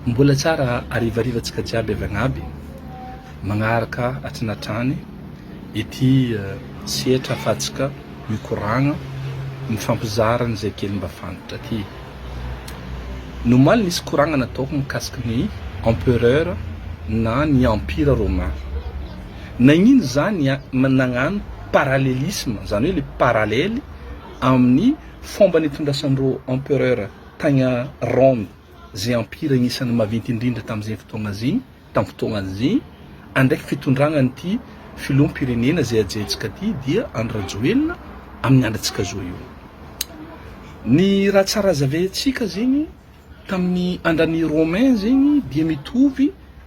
Mbola tsara harivariva tsika jiaby avy agnaby magnaraka atrany atrany ity setra afatsika mikoragna mifampizara ny zay kely mba fantatra ty nomaly nisy koragna nataoko mikasiky ny empereur na ny empire romain nagnino za ny nagnano paralelisme zany hoe le paralele amin'ny fomba nitondrasandro empereur tagna rome izay ampira anisan'ny maventy indrindra tamin'izay fotoana izay, tamin'ny fotoana izay, andraiky fitondrana an'ity filoham-pirenena izay ajaintsika ity dia Andry Rajoelina amin'ny androntsika zao io. Ny raha tsara hazavaintsika zegny tamin'ny andran'i Romain zegny dia mitovy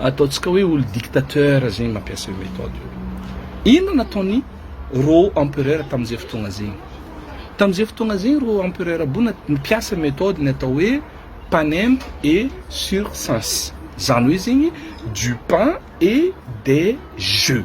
Ataontsika hoe olo dictateur zegny mampiasa io methode io. Inona nataony rô empereur tamin'izay fotoagna zegny? Tamin'izay fotoagna zegny rô empereur bona nipiasa methode ny atao hoe panem et circense, zany hoe zegny du pain et des jeux.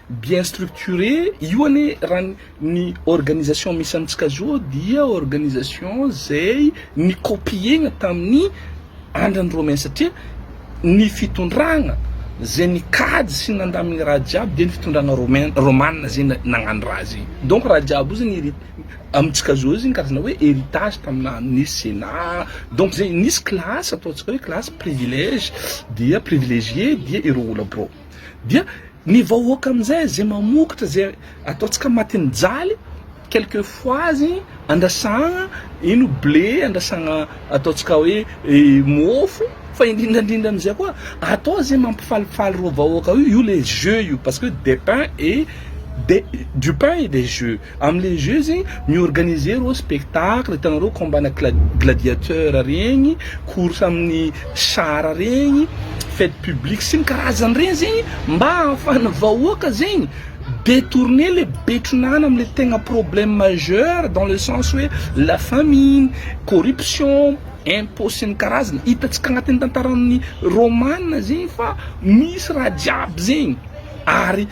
Bien structuré, io anie raha ny ny organisation misy amintsika zao dia organisation zay ni-copier-na tamin'ny andron'i Romain satria ny fitondrana zay nikajy sy nandà amin'ny raha jiaby dia ny fitondrana Romain, Romana zay nagnano raha zay. Donc raha jiaby io zany heri- amintsika zao zany karazana hoe heritage taminà nisy Sénat, donc zay nisy classe ataontsika hoe classe privilège dia privilégié dia ireo olona birao. Dia ny vahoaka amin'izay izay mamokotra izay ataontsika matin'ny jaly, quelques fois andrasana ino blé, andrasana ataontsika hoe mofo, fa indrindra indrindra amin'izay koa atao izay mampifalifaly ireo vahoaka io, io ilay jeu io, parce que des pains et des du pain et des jeux. Am le jeux zigny mi-organiser reo spectacle hitanareo combat ana gladiateur regny, course aminy char regny, fete publique sy ny karazany regny zegny mba ahafahana vahoaka zegny detourner le betron'ana am le tegna problème majeur dans le sens oe la famine, corruption, impot sy ny karazany, hitantsika agnatin'ny tantaran'ny romana zegny fa misy raha jiaby zegny ary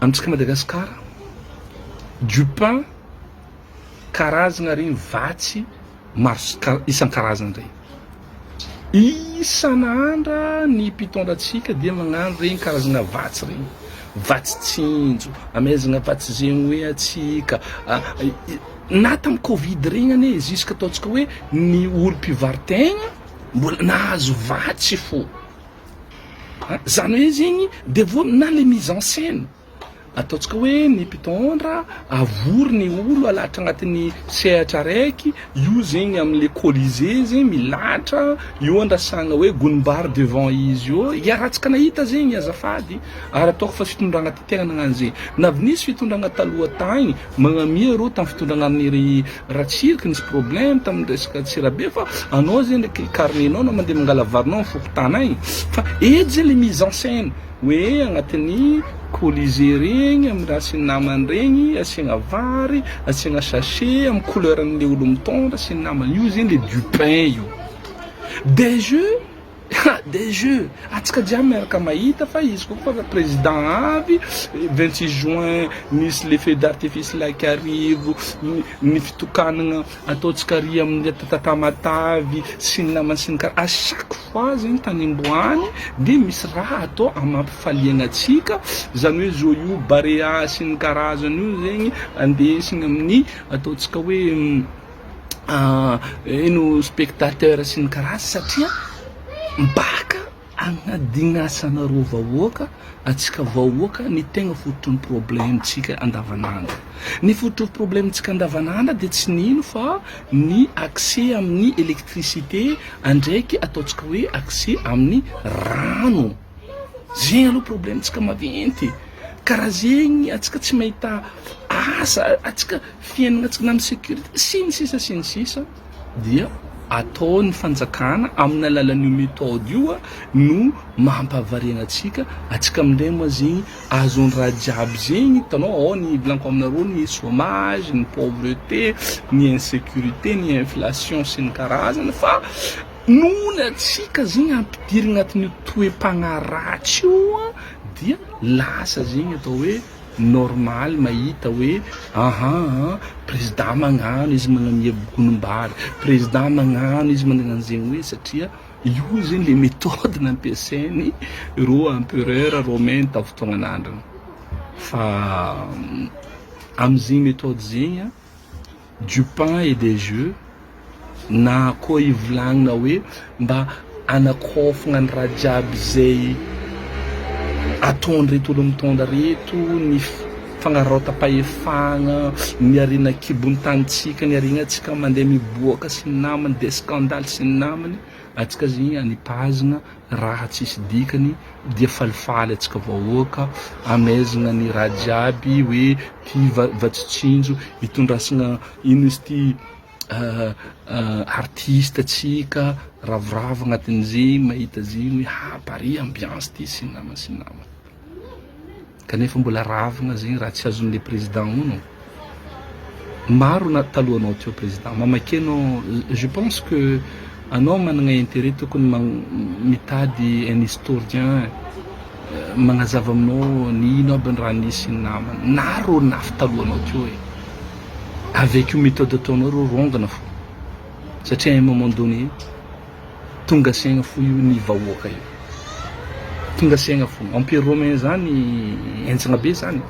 Amintsika Madagasikara, du pain, karazagna regny vatsy maro isan-karazany regny. Isan'andra ny mpitondra antsika dia magnano regny karazagna vatsy regny, vatsy tsinjo, amezagna vatsy zegny hoe antsika, na tamin'ny covid regny anie jusque ataontsika hoe ny olom-pivarotegna mbola nahazo vatsy fô. a, zany hoe zegny de vo na le mise en scène ataontsika hoe ny mpitondra avory ny olo alahatra agnatin'ny sehatra araiky io zegny amle colisee zegny milahatra io andrasagna hoe gonimbary devant izy eo iarahantsika nahita zegny azafady ary ataoko fa fitondragna Tena nagnano ze navy nisy fitondragna taloha tagny magnamia reo tam fitondragnan'i ry ratsirika nisy problème tam resaka tsirabe fa anao zegny ndreky carnet nao anao mandeha mangala varinao am fokontany agny fa eto zegny le mise en scène hoe agnatin'ny colisée regny am raha sy namany regny asiagna vary asiagna sachet am couleur anle olo mitondra sy ny namany io zegny le du pain io des jeux. Des jeux, atsika jiaby miaraka mahita fa izy ko fa président avy, 26 juin misy le feu d'artifice laika arivo, ny fitokanagna ataontsika ary amin'ny Tamatave sy ny namany sy ny kara, à chaque fois zegny tanimboany de misy raha atao amam-pifaliagna atsika, zany hoe joyaux, barea sy ny karazany io zegny andesigny amin'ny ataontsika hoe. ino spectateur sy ny karazany satria mipaka agnadin'asanareo vahoaka antsika vahoaka ny tegna fototry ny problemtsika andavan'andro ny fototry ny problemtsika andavan'andro dia tsy nino fa ny accès amin'ny électricité andraiky ataontsika hoe accès amin'ny rano Zegny aloha problemtsika maventy e, karaha zegny antsika tsy mahita asa, antsika fiainagna tsy magnana sécurité sy ny sisa sy ny sisa dia ataon'ny fanjakana amin'ny alalan'io méthode io no mampahavariagna antsika, antsika amindray moa zegny azo ny raha jiaby zegny hitanao ao ny hivolanko aminareo ny chômage, ny pauvreté, ny insécurité, ny inflation sy ny karazany fa. Noho ny hatsiaka zegny ampidiry agnatin'io toe-pagnahy ratsy io dia lasa zegny atao hoe normaly mahita hoe ahaa prezida magnano izy magnamia bokonim-bary, prezida magnano izy magnano zegny hoe satria io zegny le methode nampiasainy rô empereur romain tao fotoagnan'androny fa am'zegny methode zegny a. du pain et des jeux na koa hivolagnina hoe mba hanakofagna ny raha jiaby zay ataon'ireto olo mitondra reto ny fanararaotam-pahefagna, ny harena an-kibon'ny tanintsika, ny harenantsika mandeha miboaka sy ny namany dia scandale sy ny namany, antsika zegny anipazagna. Raha tsisy dikany dia falifaly atsika vahoaka amezigna ny raha jiaby hoe ty vatsy tsinjo itondrasagna ino izy ty artiste tsika ravoravo agnatin'izegny mahita zegny hoe ha pare ambiance ty sy namana sy namana. Kanefa mbola ravina zegny raha tsy azony le président hono maro na taloha anao teo président mamakeno je pense que anao managna intérêt tokony mitady un historien magnazava aminao ny ino aby ny raha nisy ny namany na reo nafy taloha anao teo e avec io méthode ataonao reo rongana fo satria un moment donné Tonga saigna fo io ny vahoaka io. Tonga saigna fo. Empire romain zany enjagna be zany.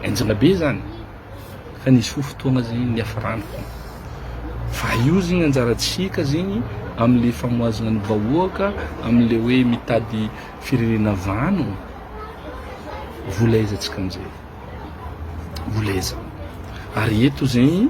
Enjagna be zany. Fa nisy fo fotoagna zegny niafiragna fo. Fa io zegny anjarantsika zegny amle famohazagna ny vahoaka, amle hoe mitady firenena vanogno, vola aiza antsika amzay? Vola aiza? Ary eto zegny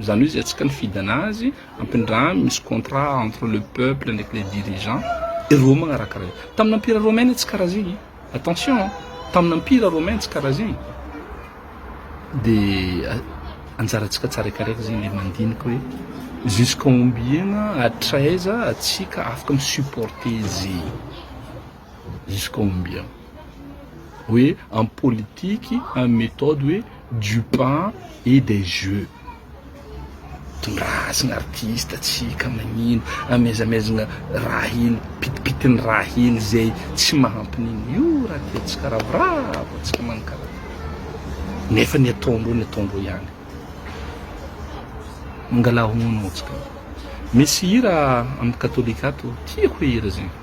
Zany hoe zay tsy knfidana azy ampindraha misy contrat entre le peuple ndraiky le dirigeant ireo magnaraka reo tamina ampira romaine tsy karaha zegny attention an tamina ampira romaine tsy karaha zegny de anjarantsika tsaraikaraiky zegny le mandiniky hoe jusqu'à ombiegna hatraiza atsika afaka mi supporter zegny. jusqu'à combien? hoe am politique am méthode hoe du pain et des jeux tondrahazina artiste tsika magnino amezamezagna raha hely pitipitiny raha hely zay tsy mahampinigny io raha tiantsika ravoravo antsika magnano karaha ty nefa ny ataondreo ny ataondreo ihany mangala honogno antsika misy hira am katolika ato tiako hoe hira zegny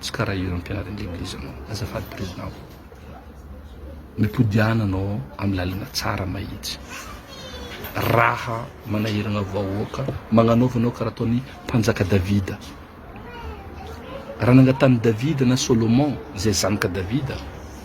Tsy karaha io Empiara indray Eglise anao azafady Président ô. Mipodiana anao amin'ny lalana tsara mahitsy. Raha manahirana vahoaka magnanaova anao karaha ataon'i Mpanjaka Davida. Raha nangatanin'i Davida na Solomon izay zanaka Davida.